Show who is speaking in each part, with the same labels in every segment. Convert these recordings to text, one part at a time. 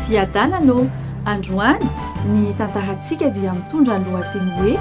Speaker 1: Fiadanana ô! Androany ny tantarantsika dia mitondra ny lohateny hoe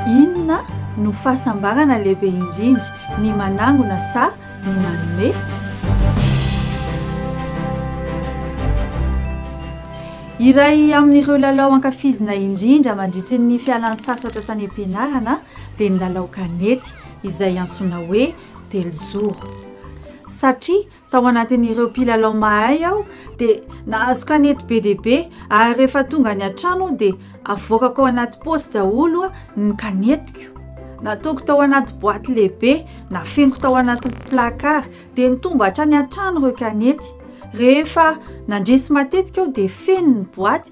Speaker 1: Inona no fahasambarana lehibe indrindra, ny manangona sa ny manome? Iray amin'ireo lalao ankafizina indrindra mandritry ny fialantsasatra tany am-pianarana dia ny lalao kanety izay antsoina hoe telozoro. Satria tao anatin'ireo mpilalao mahay aho dia nahazo kanety be dia be ary rehefa tonga any an-trano aho dia avoakako ao anaty paosy daholo ny kanetiko. Nataoko tao anaty boaty lehibe, nafeniko tao anaty placard dia nitomba hatrany an-trano ireo kanety. Rehefa nandresy matetika aho dia feno ny boaty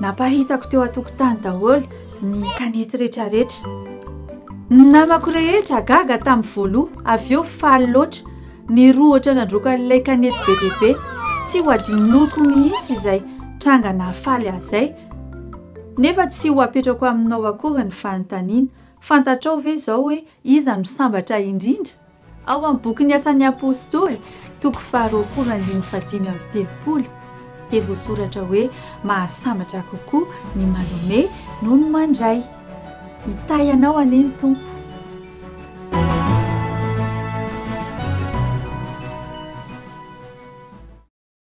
Speaker 1: Napahitako teo an-tokotany daholo ny kanety rehetrarehetra. Ny namako rehetra gaga tamin'ny voaloha, avy eo faly loatra. Ny roa ohatra nandrokan'ilay kanety be dia be. Tsy ho adinoko mihitsy izay tranga nahafaly ahy izay. Nefa tsy ho apetrako aminao akory ny fanontaniana, fantatrao ve izao hoe iza no sambatra indrindra? Ao amin'ny bokin'ny Asan'ny Apostoly, toko faharoapolo andininy fahadimy amby telopolo, dia voasoratra hoe mahasambatra kokoa ny manome noho ny mandray. Hitahy anao anie ny Tompo.